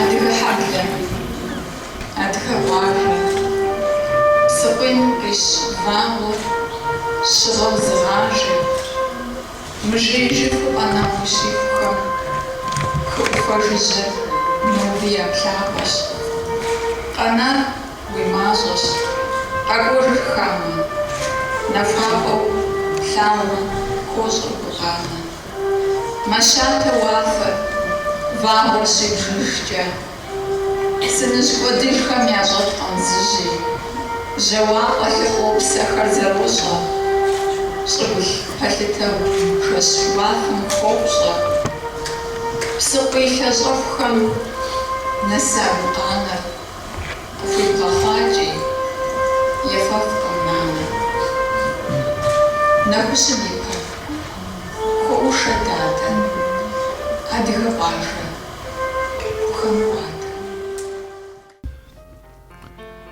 Адыгэ хьэблэ, адыгэ къуажэ, псыкъуийм къищ вагъуэр щыгъэу зыгъажэ, мыжеижыфу къэнауэ щихухэм хы ӏуфэ жыжьэр ноби я плъапӏэщ. Къэнар. Уи мащӏэщ. Къэкӏуэжыр хамэ. Нахуапӏэу плъагъум хуощӏыр гукъанэ. Мэщатэ уафэр, вагъуэр щибжыжкӏэ. Сыныжь кӏуэдыжхэм ящӏэфкъым зыжьи. Жьауапӏэ лъыхъуэу псэхэр зэрощӏэ. Щӏыгулъ пэлъытэу жэщ уафэм хуопщӏэ. Псыкъуий лъэщӏэхухэм нэса гукъанэр Къыхуибгъэхъуакӏи, ефэфкъым, нанэ. Нэхущым и пэ. Хуэӏушэ, дадэ. Адыгэ къуажэ. Гухэм хуадэ.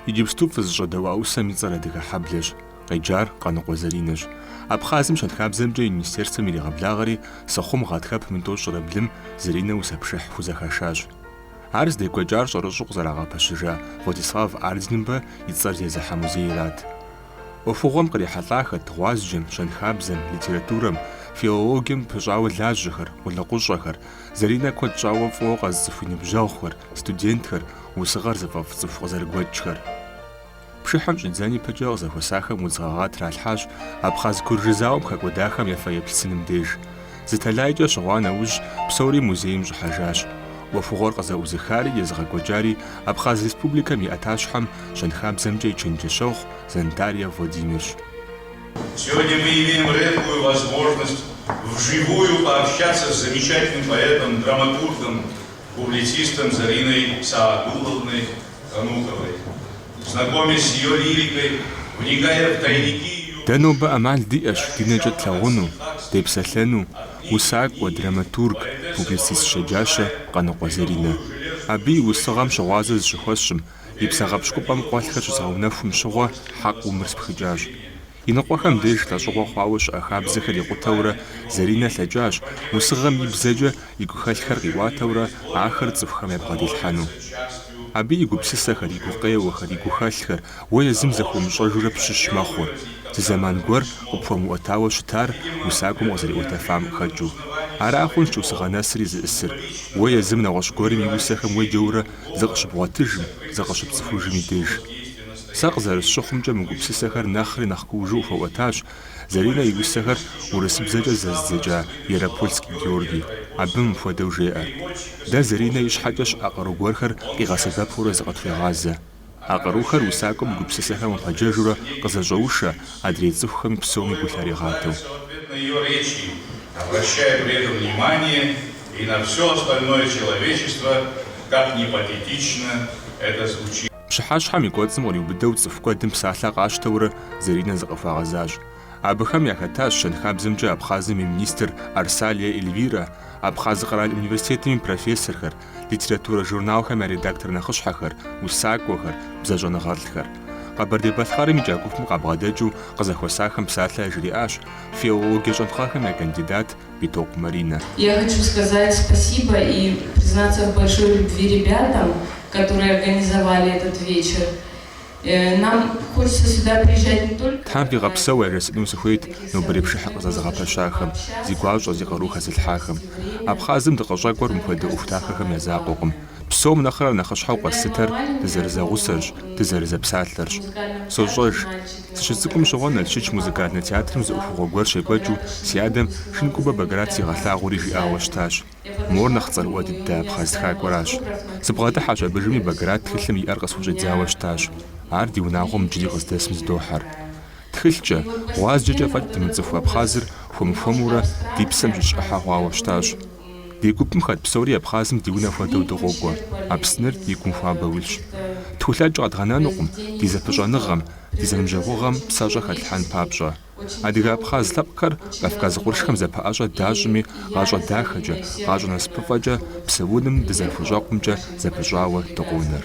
Иджыпсту фызыщӏэдэуа усэм и цӏэр Адыгэ хьэблэщ, къеджар Къаныкъуэ Заринэщ. Абхъазым щэнхабзэмкӏэ и министерствэм иригъэблагъэри, Сыхъум гъатхэпэм и тӏощӏрэ блым Заринэ усэ пшыхь хузэхашащ. Ар здекӏуэкӏар щӏэрыщӏэу къызэрагъэпэщыжа Владислав Ардзинбэ и цӏэр зезыхьэ музейрат. ӏуэхугъуэм кърихьэлӏахэт гъуазджэм, щэнхабзэм, литературэм, филологием пыщӏауэ лажьэхэр, къулыкъущӏэхэр, Заринэ куэд щӏауэ фӏыуэ къэзыцӏыху и ныбжьэгъухэр, студентхэр, усыгъэр зыфӏэфӏ цӏыху къызэрыгуэкӏхэр. Пшыхьым щӏидзэн ипэкӏэ къызэхуэсахэм удз гъэгъа тралъхьащ Абхъаз-Куржы зауэм хэкӏуэдахэм я фэеплъ сыным деж. Зы тэлайкӏэ щыгъуа нэужь, псори музейм щӏыхьэжащ. ӏуэхугъуэр къызэӏузыхари езыгъэкӏуэкӏари Абхъаз Республикэм и ӏэтащхьэм, щэнхабзэмкӏэ и чэнджэщэгъу Зантария Владимирщ. Сегодня мы имеем редкую возможность вживую пообщаться с замечательным поэтом, драматургом, публицистом Зариной Саадуловной. Дэ нобэ ӏэмал диӏэщ ди нэкӏэ тлъагъуну, депсэлъэну усакӏуэ, драматург, публицист щэджащэ Къаныкъуэ Заринэ. Абы и усыгъэм щыгъуазэ зыщыхуэсщӏым, и псэ гъэпщкӏупӏэм къуэлъхэр щызгъэунэхум щыгъуэ хьэкъыу мыр спхыкӏащ. Иныкъуэхэм деж лӏэщӏыгъуэ хъуауэ щыӏэ хабзэхэр икъутэурэ Заринэ лъэкӏащ, усыгъэм и бзэкӏэ и гухэлъхэр къиӏуатэурэ ахэр цӏыхухэм ябгъэдилъхьэну. Абы и гупсысэхэр, и гукъеуэхэр, и гухэлъхэр уэ езым зэхыумыщӏэжурэ пщыщ мэхъур, зы зэман гуэр къыпхуэмыӏуэтауэ щытар усакӏуэм къызэриӏуэтэфам хэкӏыу. Ара хъунщ усыгъэ нэсри зиӏысыр, уэ езым нэгъуэщӏ гуэрым и усэхэм уеджэурэ зыкъыщыбгъуэтыжым, зыкъыщыпцӏыхужым и деж. Сэ къызэрысщыхъумкӏэ мы гупсысэхэр нэхъри нэхъ куужу къыхуэӏуэтащ Заринэ и усэхэр урысыбзэкӏэ зэздзэкӏа Ярополский Георгий. Абы мыпхуэдэу жеӏэр, Дэ Заринэ ищхьэкӏэ щыӏэ къару гуэрхэр къигъэсэбэпурэ зыкъытхуегъазэ. А къарухэр усакӏуэм и гупсысэхэм къыпэджэжурэ къызэщӏэушэ, адрей цӏыхухэми псоми гу лъаригъатэу. Пщыхьэщхьэм и кӏуэцӏым къриубыдэу цӏыху куэдым псалъэ къащтэурэ Заринэ зыкъыхуагъэзащ. Абыхэм яхэтащ щэнхабзэмкӏэ Абхъазым и министр Арсалия Эльвирэ, Абхъаз къэрал университетым и профессорхэр, литературэ журналхэм я редактор нэхъыщхьэхэр, усакӏуэхэр, бзэщӏэныгъэлӏхэр. Къэбэрдей-Балъкъэрым икӏа гупым къабгъэдэкӏыу къызэхуэсахэм псалъэ яжриӏащ филологие щӏэныгъэхэм я кандидат, Битокъу Маринэ. Я хочу сказать спасибо и признаться в большой любви ребятам, которые организовали этот вечер. Нам хочется сюда приезжать не только. Тхьэм фигъэпсэу яжесӏэну сыхуейт нобэрей пшыхьыр къызэзыгъэпэщахэм, зи гуащӏэ, зи къару хэзылъхьахэм. Абхъазым дыкъыщӏэкӏуэр мыпхуэдэ ӏуэху дахэхэм я закъуэкъым. Псом нэхърэ нэхъыщхьэу къэслъытэр дызэрызэгъусэрщ, дызэрызэпсалъэрщ. Сощӏэж. Сыщыцӏыкӏум щыгъуэ Налшыч музыкальнэ театрым зы ӏуэхугъуэ гуэр щекӏуэкӏыу си адэм Шынкубэ Баграт сигъэлъагъури жиӏауэ щытащ. Мор нэхъ цӏэрыӏуэ дыдэ абхъаз тхакӏуэращ. Сыбгъэдыхьэщ абы жыми Баграт тхылъым и ӏэр къысхущӏидзауэ щытащ. Ар ди унагъуэм иджыри къыздэсым зыдохьэр. Тхылъкӏэ, гъуазджэкӏэ фӏэкӏ дымыцӏыху Абхъазыр хуэм-хуэмурэ ди псэм щыщ ӏыхьэ хъуауэ щытащ. Ди гупым хэт псори Абхъазым ди унэ хуэдэу дыкъокӏуэ, Апсныр ди гум хуабэу илъщ. Тхулъэкӏ къэдгъэнэнукъым ди зэпыщӏэныгъэм, ди зэныбжьэгъугъэм псэщӏэ хэлъхьэн папщӏэ. Адыгэ-абхъаз лъэпкъхэр Кавказ къуршхэм зэпэӏэщӏэ дащӏми, гъащӏэ дахэкӏэ, гъащӏэ насыпыфӏэкӏэ псэуным дызэхущӏэкъумкӏэ зэпыщӏауэ дыкъонэр.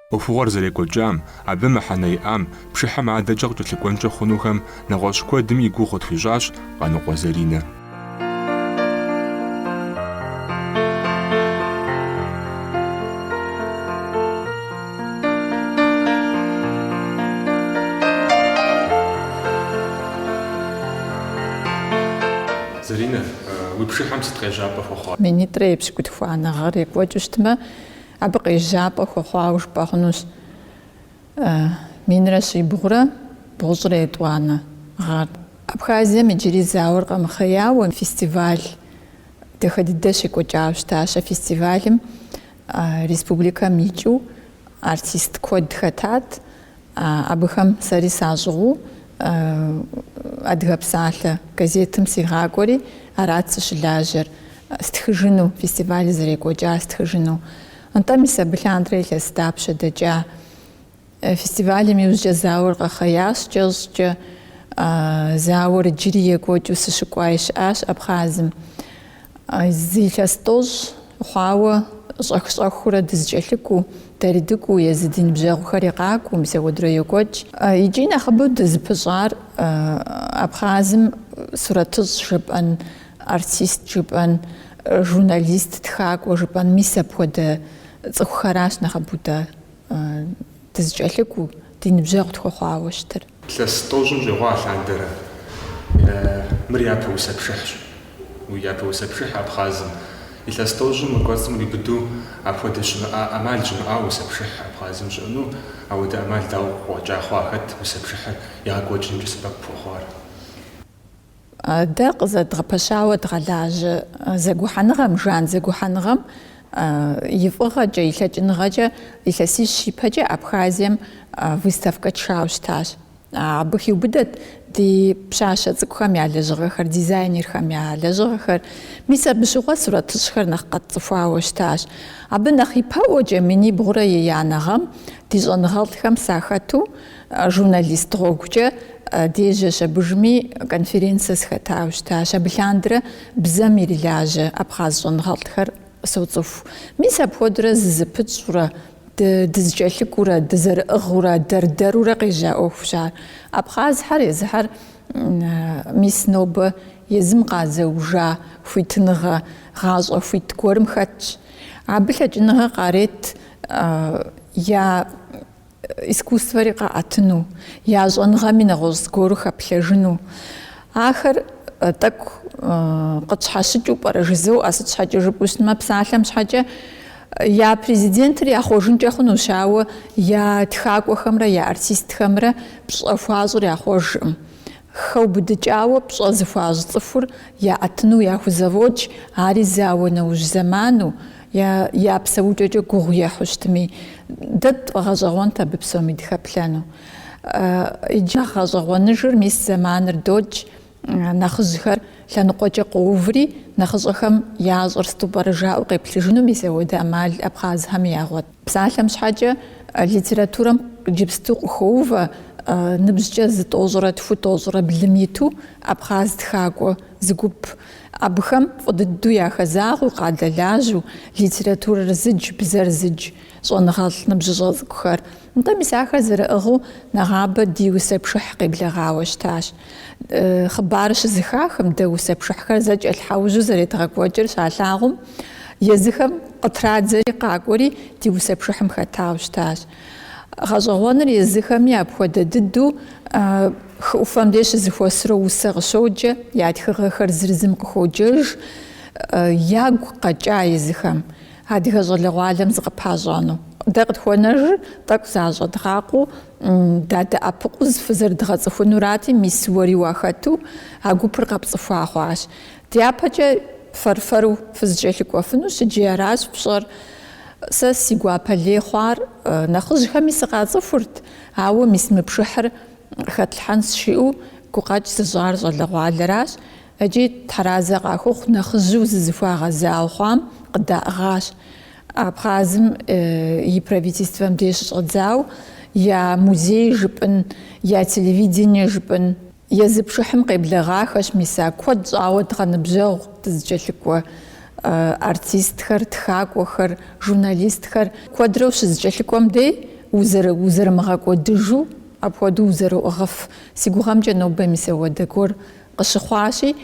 ӏуэхугъуэр зэрекӏуэкӏам, абы мыхьэнэ иӏам, пшыхьым адэкӏэ къыкӏэлъыкӏуэнкӏэ хъунухэм нэгъуэщӏ куэдым и гугъу къытхуищӏащ Къаныкъуэ Заринэ. Заринэ, уи пшыхьым сыт къежьапӏэ хуэхъуар? Минитӏрэ епщыкӏутхуанэ гъэр екӏуэкӏыу щытмэ, Абы къежьапӏэ хуэхъуауэ жыпӏэ хъунущ минрэ щибгъурэ бгъущӏрэ етӏуанэ гъэр. Абхазием иджыри зауэр къэмыхъеяуэ фестиваль дахэ дыдэ щекӏуэкӏауэ щытащ. А фестивалым республикэм икӏыу артист куэд хэтат. Абыхэм сэри сащӏыгъуу Адыгэ псалъэ газетым сигъакӏуэри, арат сыщылажьэр, стхыжыну, фестивалыр зэрекӏуэкӏар стхыжыну. Нтӏэ, мис абы лъандэрэ илъэс дапщэ дэкӏа? Фестивалым иужькӏэ зауэр къэхъеящ кӏэщӏкӏэ. Зауэр иджыри екӏуэкӏыу сыщыкӏуаи щыӏащ Абхъазым. Зы илъэс тӏощӏ хъуауэ щӏэх-щӏэхыурэ дызэкӏэлъыкӏуэу, дэри дыкӏуэу езы ди ныбжьэгъухэри къакӏуэу мис апхуэдэурэ йокӏуэкӏ. Икӏи нэхъыбэу дызыпыщӏар Абхъазым сурэтыщӏ жыпӏэн, артист жыпӏэн, журналист, тхакӏуэ жыпӏэн мис апхуэдэ цӏыхухэращ нэхъыбэу дэ дызыкӏэлъыкӏуэу, ди ныбжьэгъу тхуэхъуауэ щытыр. Илъэс тӏощӏым щӏигъуа лъандэрэ. Мыр япэ усэпшыхьщ. Япэ усэпшыхь абхъазым. Илъэс тӏощӏым и кӏуэцӏым ириубыдэу апхуэдэ щымыӏа ӏэмал щымыӏауэ усэпшыхь абхъазым щыӏэну, апхуэдэ ӏэмал дауэ къыкъуэкӏа хъуа, хэт усэпшыхьыр егъэкӏуэкӏынымкӏэ сэбэп пхуэхъуар? Дэ къызэдгъэпэщауэ дгъэлажьэ зэгухьэныгъэм, Жан зэгухьэныгъэм и фӏыгъэкӏэ, и лъэкӏыныгъэкӏэ илъэсищ ипэкӏэ Абхазием выставкэ тшауэ щытащ. Абы хиубыдэт ди пщащэ цӏыкӏухэм я лэжьыгъэхэр, дизайнерхэм я лэжьыгъэхэр. Мис абы щыгъуэ сурэтыщӏхэр нэхъ къэтцӏыхуауэ щытащ. Абы нэхъ ипэӏуэкӏэ минибгъурэ еянэ гъэм ди щӏэныгъэлӏхэм сахэту, Журналист гъуэгукӏэ дежьэщ абдежми конференцэ сыхэтауэ щытащ. Абы лъандэрэ бзэм ирилажьэ абхъаз щӏэныгъэлӏхэр соцӏыху. Мис апхуэдэурэ зызэпытщӏэурэ, дызэкӏэлъыкӏуэурэ, дызэрыӏыгъыурэ, дэр-дэрурэ къежьа ӏуэхущ ар. Абхъазхэр езыхэр мис нобэ езым къазэужа хуитыныгъэ, гъащӏэ хуит гуэрым хэтщ. Абы лъэкӏыныгъэ къарет я. искусствэри къаӏэтыну, я щӏэныгъэми нэгъуэщӏ зыгуэру хэплъэжыну, ахэр тӏэкӏу къытщхьэщыкӏыу пӏэрэ жызоӏэ, сыт щхьэкӏэ жыпӏэу щытмэ, псалъэм щхьэкӏэ я президентыр яхъуэжынкӏэ хъунущ, ауэ я тхакӏуэхэмрэ я артистхэмрэ пщӏэ хуащӏыр яхъуэжкъым. Хэубыдыкӏауэ пщӏэ зыхуащӏ цӏыхур яӏэтыну яхузэфӏокӏ, ари зауэ нэужь зэману, Я псэукӏэкӏэ гугъу ехьу щытми, дэ дфӏэгъэщӏэгъуэнт абы псоми дыхэплъэну. Иджы нэхъ гъэщӏэгъуэныжыр мис зэманыр докӏ, нэхъыжьхэр лъэныкъуэкӏэ къоуври, нэхъыщӏэхэм ящӏэр сыту пӏэрэ жаӏэу къеплъыжыну мис апхуэдэ ӏэмал абхъазхэми ягъуэт. Псалъэм щхьэкӏэ, литературэм иджыпсту къыхоувэ ныбжькӏэ зы тӏощӏрэ тху тӏощӏрэ блым иту абхъаз тхакӏуэ зы гуп. Абыхэм фӏы дыдэу яхэзагъэу, къадэлажьэу, литературэр зыдж, бзэр зыдж, щӏэныгъэлӏ ныбжьыщӏэ цӏыкӏухэр. Нтӏэ, мис ахэр зэрыӏыгъыу нэгъабэ ди усэ пшыхь къеблэгъауэ щытащ. Хъыбар щызыхахэм дэ усэ пшыхьхэр зэкӏэлъхьэужьу зэредгъэкӏуэкӏыр щалъагъум, езыхэм къытрадзэри къакӏуэри ди усэ пшыхьым хэтауэ щытащ. Гъэщӏэгъуэныр езыхэми апхуэдэ дыдэу хы ӏуфэм деж щызыхуэсурэ усэ къыщоджэ, я тхыгъэхэр зыр зым къыхуоджэж, ягу къэкӏа езыхэм адыгэ щӏалэгъуалэм зыкъыпащӏэну. Дэ къытхуэнэжыр тӏэкӏу защӏэдгъакъуэу Дадэӏэпыкъуу зы фызэрыдгъэцӏыхунурати, мис уэри уахэту а гупыр къэпцӏыхуа хъуащ. Дяпэкӏэ фэр-фэру фызыкӏэлъыкӏуэфынущ икӏи аращ пщӏэр. Сэ си гуапэ лей хъуар нэхъыжьхэми сыкъацӏыхурт, ауэ мис мы пшыхьыр къыхэтлъхьэнщ жиӏэу гукъэкӏ зыщӏар щӏалэгъуалэращ икӏи тхьэразэ къахухъу нэхъыжьу зызыхуагъэзау хъуам къыдаӏыгъащ. Абхъазым и правительствэм деж щыщӏэдзауэ я музей жыпӏын, я телевидение жыпӏын, езы пшыхьым къеблэгъахэщ мис а куэд щӏауэ дгъэныбжьэгъу дызыкӏэлъыкӏуэ артистхэр, тхакӏуэхэр, журналистхэр. Куэдрэ ущызыкӏэлъыкӏуэм дей узэрымыгъэкӏуэдыжу, апхуэдэу узэроӏыгъыф. Си гугъэмкӏэ нобэ мис апхуэдэ гуэр къыщыхъуащи,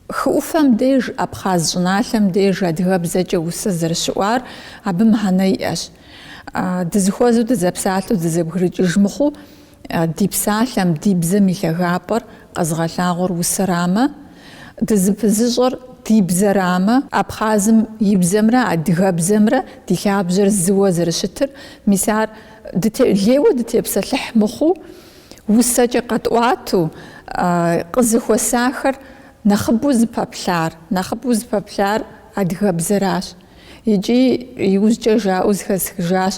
Хы ӏуфэм деж, абхъаз щӏыналъэм деж адыгэбзэкӏэ усэ зэрыщыӏуар абы мыхьэнэ иӏэщ. Дызыхуэзэу дызэпсалъэу дызэбгрыкӏыж мыхъуу, ди псалъэм, ди бзэм и лъагапӏэр къэзыгъэлъагъуэр усэрамэ, дызыпызыщӏэр ди бзэрамэ, абхъазым и бзэмрэ адыгэбзэмрэ ди лъабжьэр зыуэ зэрыщытыр, мис ар лейуэ дытепсэлъыхь мыхъуу, Усэкӏэ къэтӏуату къызыхуэсахэр нэхъыбэу зыпэплъар, нэхъыбэу зыпэплъар адыгэбзэращ. Икӏи иужькӏэ жаӏэу зыхэсхыжащ,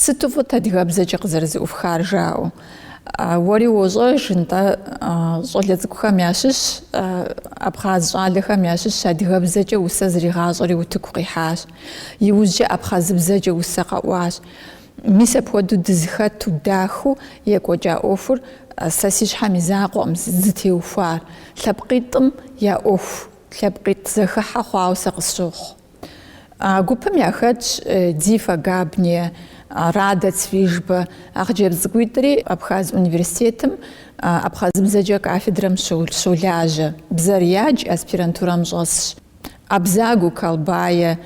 Сыту фӏыт адыгэбзэкӏэ къызэрызыӏуфхар жаӏэу. Уэри уощӏэж, нтӏэ, щӏалэ цӏыкӏухэм ящыщ, абхъаз щӏалэхэм ящыщ адыгэбзэкӏэ усэ зригъащӏэри утыку къихьащ. Иужькӏэ абхъазыбзэкӏэ усэ къэӏуащ. Мис апхуэдэу дызыхэту дахэу екӏуэкӏа ӏуэхур сэ си щхьэм и закъуэкъым зытеухуар. Лъэпкъитӏым я ӏуэху, лъэпкъитӏ зэхыхьэ хъуауэ сэ къысщохъу. А гупым яхэтщ Дзифа Габния, Рада Цвижба, а хъыджэбз цӏыкӏуитӏри Абхаз университетым абхъазыбзэкӏэ кафедрэм щолажьэ, бзэр ядж аспирантурэм щӏэсщ. Абзагу Колбае,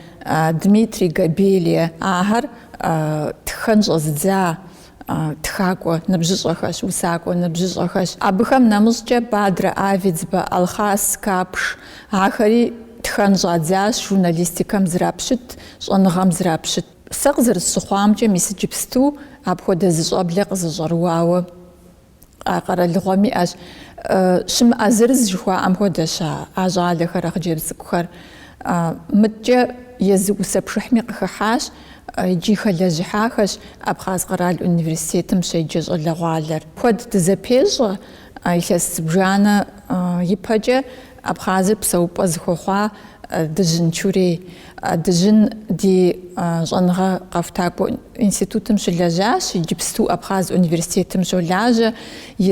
Дмитрий Габелие ахэр тхэн щӏэзыдза тхакӏуэ ныбжьыщӏэхэщ, усакӏуэ ныбжьыщӏэхэщ. Абыхэм нэмыщӏкӏэ Бадрэ Авидзбэ, Алхъас Капш ахэри тхэн щӏадзащ журналистикэм зрапщыт щӏэныгъэм зрапщыт. Сэ къызэрысщыхъуамкӏэ, мис иджыпсту апхуэдэ зы щӏэблэ къызэщӏэрыуауэ. А къэралыгъуэм иӏэщ щымыӏэ зырыз жыхуаӏэм хуэдэщ а щӏалэхэр, а хъыджэбз цӏыкӏухэр. Мыдэкӏэ езы усэ пшыхьми къыхыхьащ икӏи хэлэжьыхьахэщ Абхъаз къэрал университетым щеджэ щӏалэгъуалэр. Куэд дызэпещӏэ илъэс зыбжанэ ипэкӏэ Абхъазыр псэупӏэ зыхуэхъуа Дыжьын, Чурей Дыжьын ди щӏэныгъэ къэхутакӏуэ институтым щылэжьащ, иджыпсту Абхъаз университетым щолажьэ,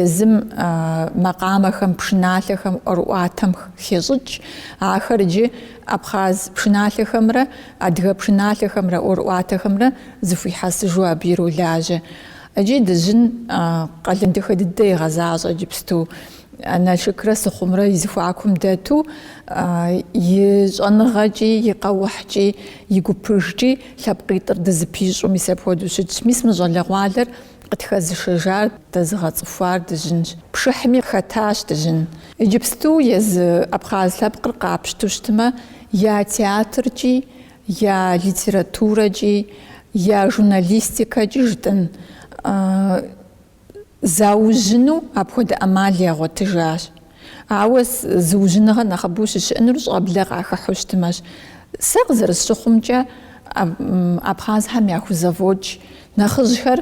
езым макъамэхэм, пшыналъэхэм ӏуэрыӏуатэм хещӏыкӏ. Ахэр иджы абхъаз пшыналъэхэмрэ адыгэ пшыналъэхэмрэ ӏуэрыӏуатэхэмрэ зыхуихьэсыжу абы иролажьэ. Икӏи Дыжьын къалэн дахэ дыдэ егъэзащӏэ иджыпсту. Налшыкрэ Сыхъумрэ и зыхуакум дэту и щӏэныгъэкӏи, и къэухькӏи, и гупыжкӏи лъэпкъитӏыр дызыпищӏу мис апхуэдэу щытщ. Мис мы щӏалэгъуалэр къытхэзышэжар, дэзыгъэцӏыхуар Дыжьынщ. Пшыхьми хэтащ Дыжьын. Иджыпсту езы абхъаз лъэпкъыр къапщту щытмэ, я театркӏи, я литературэкӏи, я журналистикэкӏи жытӏын. заужьыну апхуэдэ ӏэмал ягъуэтыжащ. Ауэ зыужьыныгъэ нэхъыбэу щыщыӏэнур щӏэблэ къахыхьу щытмэщ. Сэ къызэрысщыхъумкӏэ, абхъазхэм яхузэфӏокӏ нэхъыжьхэр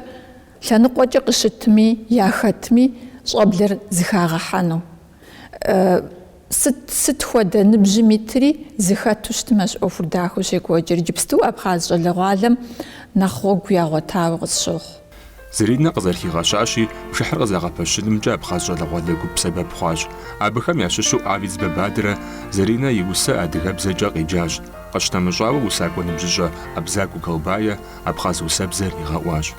лъэныкъуэкӏэ къыщытми, яхэтми, щӏэблэр зыхагъэхьэну. Сыт, сыт хуэдэ ныбжьым итри зыхэту щытмэщ ӏуэхур дахэу щекӏуэкӏыр. Иджыпсту Абхъаз щӏалэгъуалэм нэхъ гъуэгу ягъуэтауэ къысщохъу. Зэринэ къызэрыхигъэщащи, пшыхьыр къызэгъэпэщынымкӏэ Абхъаз щӏалэгъуалэ гуп сэбэп хъуащ. Абыхэм ящыщу Авидзбэ Бадрэ Зэринэ и усэ адыгэбзэкӏэ къеджащ. Къыщынэмыщӏауэ, усакӏуэ ныбжьыщӏэ Абзагу Колбае Абхъаз усэбзэр игъэӏуащ.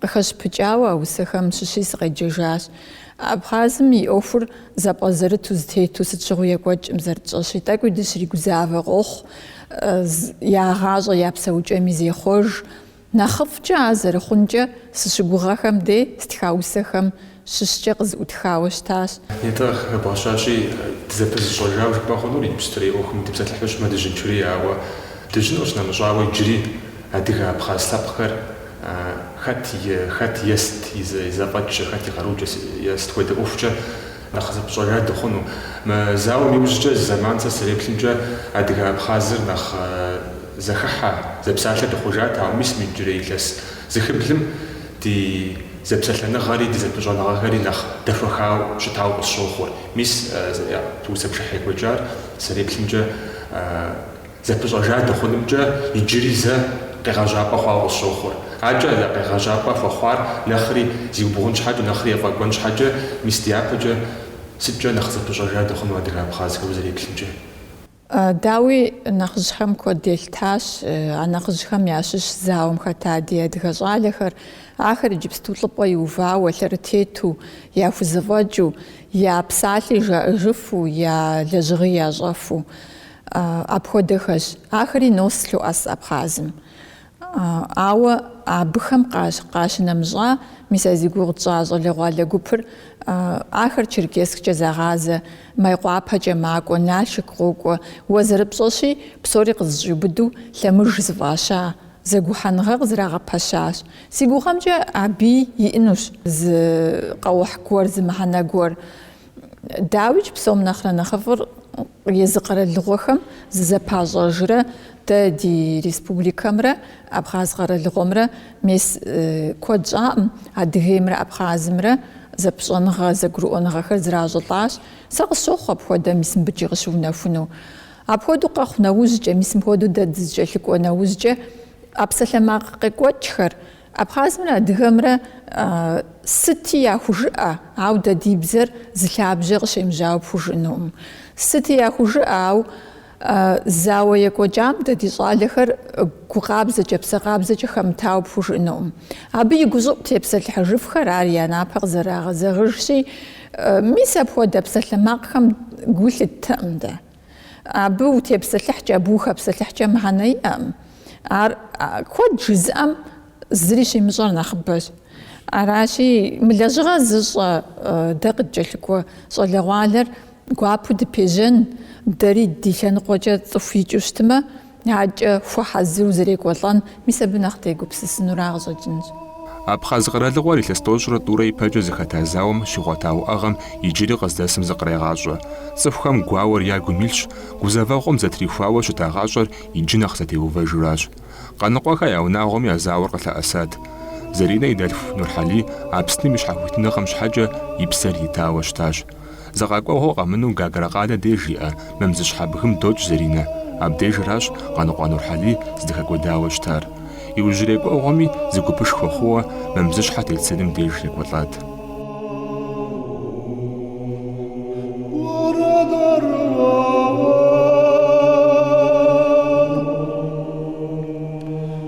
Къыхэщыпыкӏауэ а усэхэм щыщи сыкъеджэжащ. Абхъазым и ӏуэхур зэпӏэзэрыту зытету сыт щыгъуи екӏуэкӏкъым, зэрытщӏэщи, тӏэкӏуи дыщригузавэ къохъу, я гъащӏэ я псэукӏэми зехъуэж. Нэхъыфӏкӏэ ар зэрыхъункӏэ сыщыгугъэхэм дей стха усэхэм щыщкӏэ къызыӏутхауэ щытащ. Нетӏэ къыхэбгъэщащи, дызэпызыщӏэжауэ жыпӏэ хъунур иджыпстурей ӏуэхум дытепсэлъыхьу щытмэ Дыжьын Чурей, ауэ Дыжьын къищынэмыщӏауэ иджыри адыгэ-абхъаз лъэпкъхэр хэт и хэт е сыт и зэфӏэкӏкӏэ, хэт и къарукӏэ е сыт хуэдэ ӏуэхукӏэ нэхъ зэпыщӏэжа дыхъуну. Мы зауэм иужькӏэ зы зэман сэ сызэреплъымкӏэ адыгэ-абхъазыр нэхъ зэхыхьэ, зэпсалъэ дыхъужат, ауэ мис мы иджырей илъэс зы хыблым ди Зэпсэлъэныгъэри ди зэпыщӏэныгъэхэри нэхъ дэхуэхауэ щытауэ къысщохъур. Мис усэ пшыхьыр екӏуэкӏар сызэреплъымкӏэ зэпыщӏэжа дыхъунымкӏэ иджыри зэ къегъэжьапӏэ хъуауэ къысщохъур. Абыкӏэ къегъэжьапӏэ хуэхъуар нэхъри зиубгъун щхьэкӏэ, нэхъри ефӏэкӏуэн щхьэкӏэ, мис дяпэкӏэ сыткӏэ нэхъ зэпыщӏэжа дыхъуну адыгэ-абхъазхэр узэреплъымкӏэ. Дауи, нэхъыжьхэм куэд елъытащ, а нэхъыжьхэм ящыщ зауэм хэта ди адыгэ щӏалэхэр, ахэр иджыпсту лӏыпӏэ иувауэ, лъэрытету, яхузэфӏэкӏыу, я псалъи жаӏэжыфу, я лэжьыгъи ящӏэфу. Апхуэдэхэщ. Ахэри нос лъоӏэс Абхъазым. Ауэ абыхэм къащ къащынэмыщӏа, мис а зи гугъу тщӏа щӏалэгъуалэ гупыр, ахэр Черкессккӏэ загъазэ, Майкъуапэкӏэ макӏуэ, Налшык къокӏуэ, уэ зэрыпщӏэщи, псори къызыщӏиубыду лъэмыж зыфӏаща, зэгухьэныгъэ къызэрагъэпэщащ. Си гугъэмкӏэ абыи иӏынущ зы къэухь гуэр, зы мыхьэнэ гуэр. Дауикӏ, псом нэхърэ нэхъыфӏыр езы къэралыгъуэхэм зызэпащӏэжрэ дэ ди республикэмрэ Абхъаз къэралыгъуэмрэ мес куэд щӏаӏым, Адыгеймрэ Абхъазымрэ зэпыщӏэныгъэ, зэгурыӏуэныгъэхэр зэращӏылӏащ. Сэ къысщохъу апхуэдэ мис мыбдежи къыщыунэхуну. Апхуэдэу къэхъу нэужькӏэ, мис мыпхуэдэу дэ дызэкӏэлъыкӏуэ нэужькӏэ, а псалъэмакъ къекӏуэкӏхэр, Абхъазымрэ адыгэмрэ сыти яхужыӏэ, ауэ дэ ди бзэр зы лъабжьэ къыщемыжьауэ пхужыӏэнукъым. Сыти яхужыӏэ, ауэ зауэ екӏуэкӏам дэ ди щӏалэхэр гу къабзэкӏэ, псэ къабзэкӏэ хэмытауэ пхужыӏэнукъым. Абы и гущӏыӏу тепсэлъыхьыжыфхэр ар я напэ къызэрагъэзэгъыжщи, мис апхуэдэ псалъэмакъхэм гу лъыттэкъым дэ. Абы утепсэлъыхькӏэ, абы ухэпсэлъыхькӏэ мыхьэнэ иӏэкъым. Ар куэд жызыӏэм зыри щимыщӏэр нэхъыбэщ. Аращи, мы лэжьыгъэр зыщӏэ дэ къыдкӏэлъыкӏуэ щӏалэгъуалэр гуапэу дыпежьэн, дэри ди лъэныкъуэкӏэ цӏыху икӏыу щытмэ, Акӏэ хуэхьэзыру зэрекӏуэлӏэн, мис абы нэхъ дегупсысынура къыщӏэкӏынщ. Абхъаз къэралыгъуэр илъэс тӏощӏрэ тӏурэ ипэкӏэ зэхэта зауэм щигъуэта уӏэгъэм иджыри къыздэсым зыкърегъащӏэ. Цӏыхухэм гуауэр ягум илъщ, гузэвэгъуэм зэтрихуауэ щыта гъащӏэр иджы нэхъ зэтеувэжу аращ. Къаныкъуэхэ я унагъуэми а зауэр къылъэӏэсат. Заринэ и дэлъху Нурхьэлий Апсным и щхьэхуитыныгъэм щхьэкӏэ и псэр итауэ щытащ. Зы къэкӏуэгъуэ къэмынэу Гагрэ къалэ деж щыӏэ Мамзыщхьэ бгым докӏ Заринэ. Абдежыращ Къаныкъуэ Нурхьэлий здэхэкӏуэдауэ щытар. Иужьрей кӏуэгъуэми зы гупышхуэ хъууэ Мамзыщхьэ тет сыным деж екӏуэлӏат.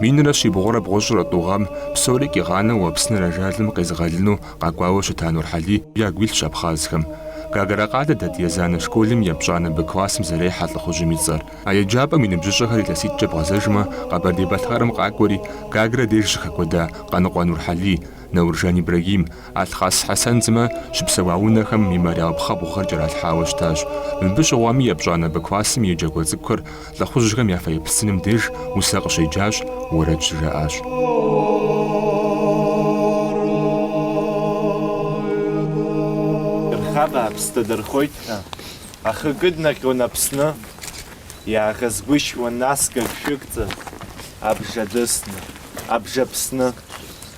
Минрэ щибгъурэ бгъущӏрэ тӏу гъэм псори къигъанэу Апсныр ажалым къезыгъэлыну къэкӏуауэ щыта Нурхьэлий ягу илъщ абхъазхэм. Гагра къалэ дэт Езанэ школым епщӏанэ Б классым зэрехьэ лӏыхъужьым и цӏэр. А еджапӏэм и ныбжьыщӏэхэр илъэситӏкӏэ бгъэзэжмэ, Къэбэрдей-Балъкъэрым къакӏуэри, Гагрэ деж щыхэкӏуэда Къаныкъуэ Нурхьэлий, Науржан Ибрагим, Алъхъас Хьэсэн сымэ щыпсэуа унэхэм мемориал пхъэбгъухэр кӏэралъхьауэ щытащ. Мыбы щыгъуэми епщӏанэ Б классым и еджакӏуэ цӏыкӏухэр лӏыхъужьхэм я фэеплъ сыным деж усэ къыщеджащ, уэрэд щыжаӏащ.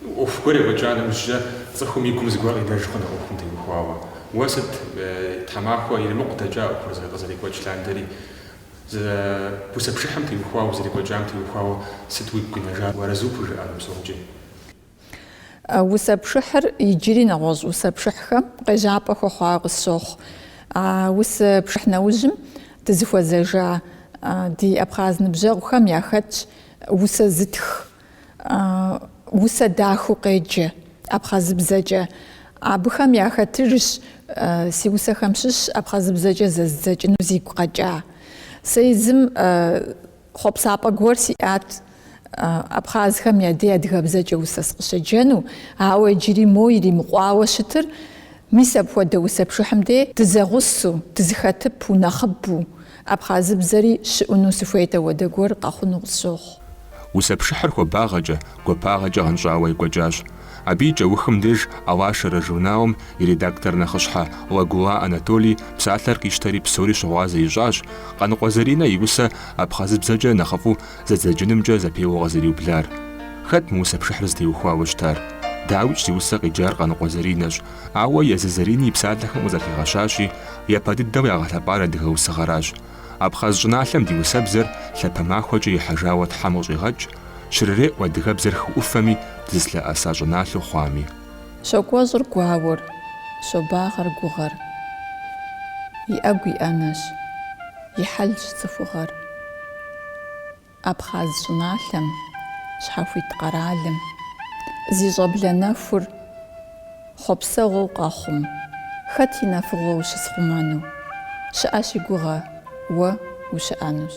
ӏуэху гуэр екӏуэкӏа нэужькӏэ, цӏыхум и гум зыгуэр къинэж хъунщ а ӏуэхум теухуауэ. Уэ сыт, тхьэмахуэ иримыкъу дэкӏа ӏуэхур къызэрекӏуэкӏ лъандэрэ? Усэ пшыхьым теухуауэ, зэрекӏуэкӏам теухуауэ сыт уигу къинэжар, уарэзу пхужыӏэну псомкӏи? Усэ пшыхьыр иджыри нэгъуэщӏ усэ пшыхьхэм къежьапӏэ хуэхъуауэ къысщохъу. А усэ пшыхь нэужьым дызыхуэзэжа ди абхъаз ныбжьэгъухэм яхэтщ усэ зытх. усэ дахэу къеджэ абхъазыбзэкӏэ. Абыхэм яхэтщ си усэхэм щыщ абхъазыбзэкӏэ зэзыдзэкӏыну зигу къэкӏа. Сэ езым хъуэпсапӏэ гуэр сиӏат абхъазхэм я дей адыгэбзэкӏэ усэ сыкъыщеджэну, ауэ иджыри моуэ иримыкъуауэ щытыр, мис апхуэдэ усэ пшыхьым дей дызэгъусэу, дызэхэтыпэу, нэхъыбэу, Абхъазыбзэри щыӏуну сыхуейт, апхуэдэ гуэр къэхъуну къысщохъу. Усэ пшыхьыр хуабагъэкӏэ, гуапагъэкӏэ гъэнщӏауэ екӏуэкӏащ. Абы и кӏэухым деж Алашара журналым и редактор нэхъыщхьэ Лагула Анатолий псалъэр къищтэри псори щыгъуазэ ищӏащ, Къаныкъуэ Заринэ и усэ абхъазыбзэкӏэ нэхъыфӏу зэдзэкӏынымкӏэ зэпеуэ къызэриублар. Хэт мы усэ пшыхьыр зытеухуауэ щытар? Дауикӏ, зи усэ къеджар Къаныкъуэ Заринэщ. Ауэ езы Зэрин и псалъэхэм къызэрыхигъэщащи, япэ дыдэу ягъэлъэпӏар адыгэ усыгъэращ. Абхъаз щӏыналъэм ди усэбзэр лъапэ махуэкӏэ ихьэжауэ Тхьэм къыщӏигъэкӏ, щрыреӏу адыгэбзэр хы ӏуфэми дызылъэӏэса щӏыналъэу хъуами. Щокӏуэщӏыр гуауэр, щобагъэр гугъэр. И ӏэгу и ӏэнэщ, и хьэлщ цӏыхугъэр. Абхъаз щӏыналъэм, щхьэхуит къэралым, зи щӏэблэ нэхур хъуэпсэгъуэу къэхъум, хэт и нэфыгъуэ ущысхъумэну щыӏэщ си гугъэ уэ ущыӏэнущ.